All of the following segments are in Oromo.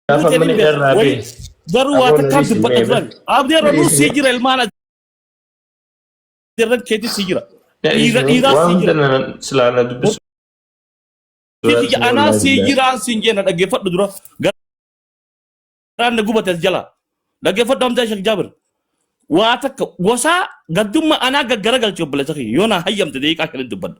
Gaafa Nuti mana ni beeku. irraa Wali- bee. Garuu waa Aboo takkaan Nabii dubbadha Simeebe. turan. Abdii Nabii Rabuu sii Simeebe. jira ilmaan adirran keetii sii jira. Dhiira dhiiraa Waan sii hunda jira. na silaa na dubbisu. Sii jira. Anaa sii jiraan siin jenna dhaggeeffadhu dura. Garaan na gubate as jala. Dhaggeeffadhu amtaa Sheek Jaabir. Waa takka gosaa gaddummaa anaa gaggara galche obboleessa kiyya. Yoo naa hayyamte deeqaa kan hin dubbadhu.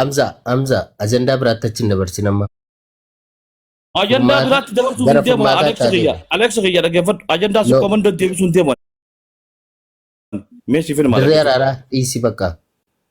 Amza, Amza, ajandaa biraatti achi hin dabarsin amma. Ajandaa Furmaata- biraatti dabarsuuf gara hin deemu. furmaataa Aleeksi taatee. kiyya. Aleeksi kiyya dhaggeeffadhu. Ajandaa si No. komando deebisuu hin deemu. Mee siif hin Dirree araaraa dhiisi bakka.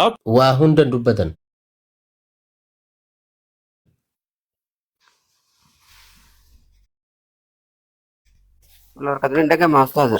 Out. Waa hundan dubbatan. Lor ka durin daga ma ustaza.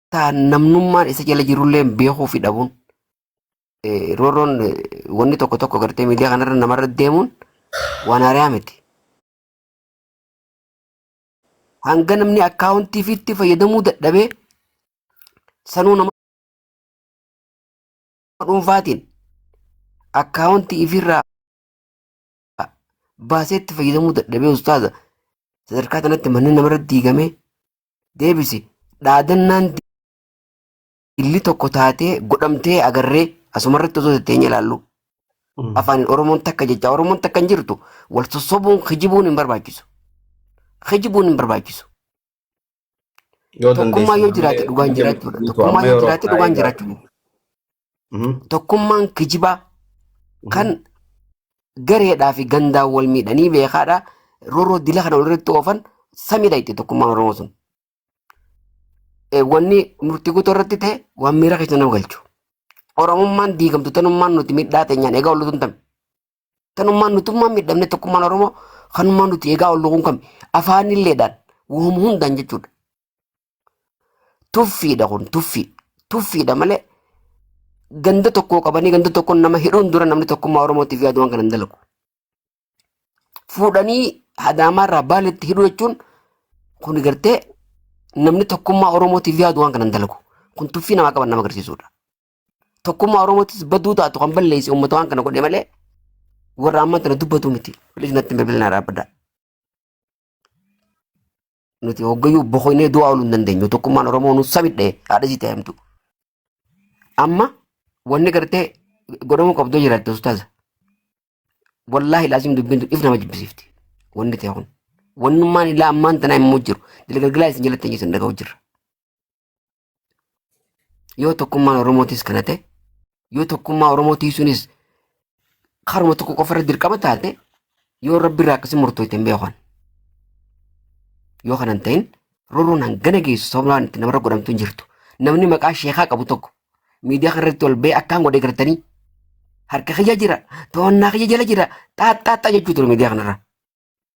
ta namnummaan isa jala jirullee beekuu fi dhabuun eh, roorroon eh, wanni tokko tokko gartee miidiyaa kanarra namarra deemuun waan haaraa miti. Hanga namni akkaawuntii fi itti fayyadamuu dadhabee sanuu nama dhuunfaatiin akkaawuntii ifirraa baasee itti fayyadamuu dadhabee ustaaza sadarkaa kanatti manneen namarra diigamee deebisi dhaadannaan dilli tokko taatee godhamtee agarree asumarratti osoo tetteenye ilaallu afaan oromoon takka jecha oromoon takka hin jirtu wal sossobuun kijibuun hin barbaachisu kijibuun hin barbaachisu Yoo tokkummaa dandeessan yoo jiraate dhugaan jiraachuudha tokkummaa yoo jiraate dhugaan jiraachuudha Mhm. Tokkummaan kijibaa kan Mhm. gareedhaa fi gandaan wal miidhanii beekaadha. Roroo dila kana walirratti oofan samidha itti tokkummaan Oromoo sun. Eh, Wanni murtii guutuu irratti ta'e waan miira keessa nama galchu. Oromummaan diigamtu tanummaan nuti miidhaa teenyaan egaa ollutuun tami. Tanummaan nutummaan miidhamne tokkummaan Oromoo kanummaan nuti egaa ollutuun kami. Afaanilleedhaan waan hundaan jechuudha. Tuffiidha kun tuffii. Tuffiidha malee ganda tokkoo qabanii ganda tokkoon nama hidhuun dura namni tokkummaa Oromootiif yaadu waan kana hin dalagu. Fuudhanii hadaamaarraa baaletti hidhuu jechuun kun gartee namni tokkummaa Oromootiif yaadu waan kana hin dalagu. Kun tuffii namaa qaban nama agarsiisudha. Tokkummaa Oromootis baduu taatu kan balleessi uummata waan kana godhe malee warra ammaa tana dubbatu miti. Bilis natti hin bilbilinaa dhaabbadhaa. Nuti hoggayyuu boqonnee du'aa ooluu hin dandeenyu. Tokkummaan Oromoo nu sabidhe haadha sitti himtu. Amma wanni gartee godhamuu qabdu jiraatti ustaaza. Wallaahi laazim dubbiin tun if nama jibbisiifti. Wanni ta'e kun. Wannummaan ilaa ammaan tanaa immoo jiru. Dila galgalaa isin jalatti hin jiru dhaga'u jirra. Yoo tokkummaan Oromootis kana ta'e, yoo tokkummaa Oromoo tiisuunis karuma tokko qofa irra dirqama taate, yoo rabbi irraa akkasii murtooyte hin beekan. Yoo kana hin ta'in, rorroon hangana geessu sababaan itti namarra godhamtu hin jirtu. Namni maqaa sheekaa qabu tokko miidiyaa kana irratti ol ba'ee akkaan godhe gartanii harka kiyya jira, to'annaa kiyya jala jira, xaaxxaaxxaa jechuu ture miidiyaa kanarra.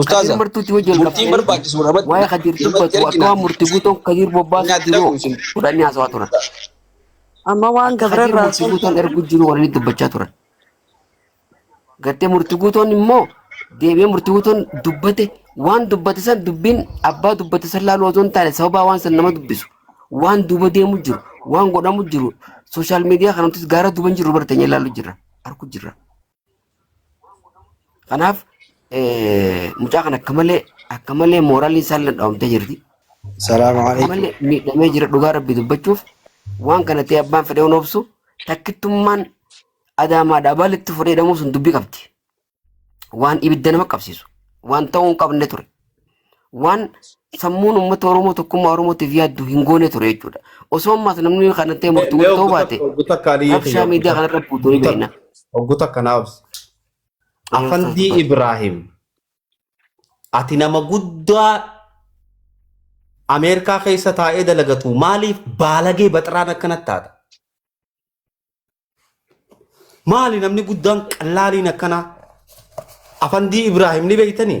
Ustaaza, Kadir martuutti hojii wal murtiin qabsiisanii barbaachisu irratti waa'ee Kadir irratti dubbatu akka erginaa waan murti guutuun Kadir hin bobbaasuuf jiru addamu isin. godhanii haasawaa turan. Amma waan Akka gabra Kadir irraa murti guutuun salphaa. ergu jiru waliin dubbachaa turan. Gartee murti guutuun immoo deebi'ee murti guutuun dubbate waan dubbate san dubbiin abbaa dubbate san laaluu osoo hin taane sababaa waan san nama dubbisu waan duuba deemu jiru waan godhamu jiru sooshaal miidiyaa kanattis gaara duuba hin jiru barteenyee laaluu jirra argu jirra. Kanaaf mucaa kan akka malee akka malee mooraalii isaan ladhaawamtee jirti. Salaamu Akka alaikum. malee miidhamee jira dhugaa rabbi dubbachuuf waan kana ta'e abbaan fedhee hin obsu takkittummaan adaamaa dhaabaa litti fudhee hidhamuu sun dubbii qabdi. Waan ibidda nama qabsiisu waan ta'uu hin qabne ture. waan sammuun uummata Oromoo tokkummaa Oromootiif yaaddu hin goone ture jechuudha. Osoo ammaas namni kana ta'e murtu mee murtoo baate oggu takka aliyyi rabshaa kiyya miidiyaa kana irra buutu ni beekna. oggu takka naa obsi afandii ibraahim ati nama guddaa ameerikaa keessa taa'ee dalagatu maaliif baalagee baxiraan akkanatti taata maali namni guddaan qallaaliin akkanaa afandii ibraahim ni beektanii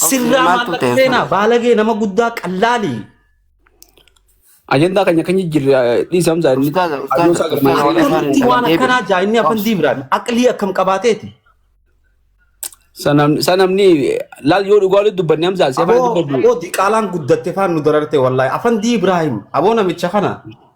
Sirraa Maaltu maallaqa ta'e seenaa sana? baalagee nama guddaa qallaalii. Ajandaa keenya kan jijjiirre dhiisa hamza inni Ustaaza, ustaaza, adoon isaa galmaan ustaaza, seenaa. Akkamitti waan Deebiin. akkanaa jaa inni afan diibraan aqlii akkam qabaateeti. Sanam- Sanamni laal yoo dhugaa walitti dubbanne hamza seefaan Aboo dubbaddu. aboo diqaalaan guddatte faan nu dararte wallaahi afan diibraahim aboo namicha kana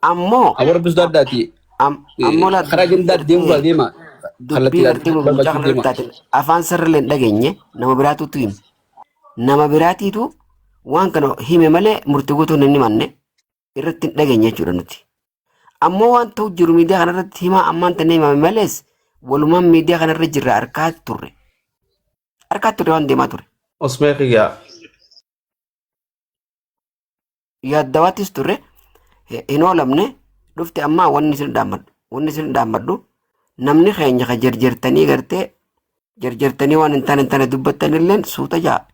Ammoo Aboo rabbi sodaadhaa ti. am- ammoo laa Karaa dubbii gandaatti deemuu gartee deema. Kallattii dubbii gartee ilaaltuu mucaa barbaachisu kana deema. irratti ati afaan sirriilee hin dhageenye nama biraatuutu hime. Nama biraatiitu waan kana hime malee murtii guutuu hin himanne irratti hin dhageenye jechuudha nuti. Ammoo waan ta'u jiru miidiyaa kana irratti himaa ammaan tana himame malees walumaan miidiyaa kana irra jirra harkaa turre. Harkaa turre waan deemaa ture. Osmee kiyyaa. yaaddawaattis turre hin oolamne dhufte ammaa wanni isin dhaammadhu wanni isin dhaammadhu namni keenya ka jarjartanii gartee jarjartanii waan hin taane hin taane dubbattan illeen suuta ja'a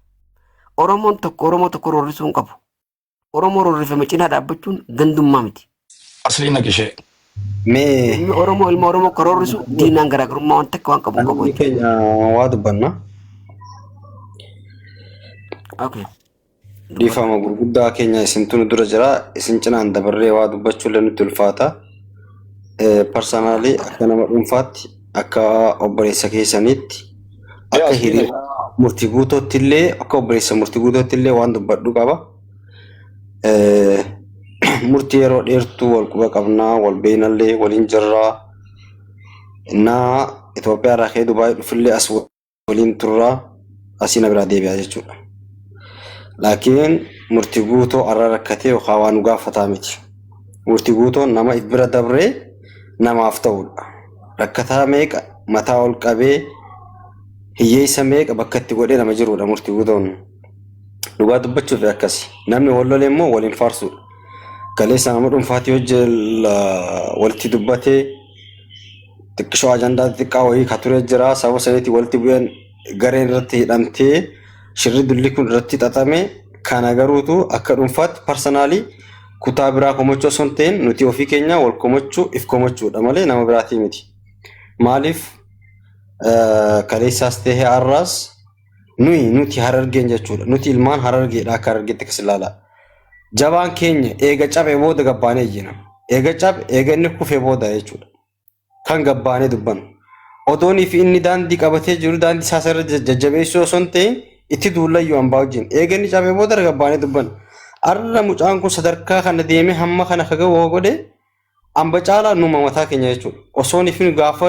oromoon tokko oromoo tokko rorrisuu hin qabu oromoo rorrifame cinaa dhaabbachuun gandummaa miti Aslii naqi ishee. Mee Ilmi Oromoo ilma Oromoo karoorrisu diinaan garaagarummaa waan takka waan qabu hin qabu namni jechuudha. keenya waa dubbanna. Okay. Dubbadha. Dhiifama gurguddaa keenya isintu nu dura jira. Isin cinaan dabarree waa dubbachuullee nutti ulfaata. Parsanaalii akka nama dhuunfaatti akka obboleessa keessaniitti Mee akka aslii naqi. hiriyaa murtii guutootti illee akka obboleessa murtii guutootti illee waan dubbadhu qaba. murtii yeroo dheertuu wal quba qabnaa wal beeynallee waliin jirraa innaa Itoophiyaa irraa ka'ee Dubaayii dhufillee as waliin turraa asii na biraa deebi'aa jechuudha. Laakiin murtii guutoo arra rakkatee yookaan waan nu gaafataa miti. Murtii guutoo nama if bira dabree namaaf ta'udha. Rakkataa meeqa mataa ol qabee hiyyeessa meeqa bakka itti godhee nama jirudha murtii guutoon. Dhugaa dubbachuuf akkasi. Namni wal lole immoo waliin faarsuudha. Kaleessa nama dhuunfaatti yoo jil walitti dubbate xiqqishoo ajandaa xiqqaa wayii ka ture jira. Sababa saniitti walitti bu'een gareen irratti hidhamtee shirri dulli kun irratti xaxame kana garuutu akka dhuunfaatti parsanaalii kutaa biraa komachuu osoo hin ta'in nuti ofii keenya wal komachuu if komachuudha malee nama biraatii miti. Maaliif kaleessaas ta'e har'aas nuyi nuti harargeen jechuudha nuti ilmaan harargeedha akka harargeetti akkas ilaalaa jabaan keenya eega cabe booda gabbaanee iyyina eega cabe eega inni kufee booda jechuudha kan gabbaanee dubbanu odoonii fi inni daandii qabatee jiru daandii isaa irra jajjabeessuu osoo hin ta'in itti duullayyuu hambaa wajjin eega inni cabe booda gabbaanee dubbanu arra mucaan kun sadarkaa kana deemee hamma kana akka ga'u godhe hamba caalaa numa mataa keenya jechuudha osoonii fi gaafa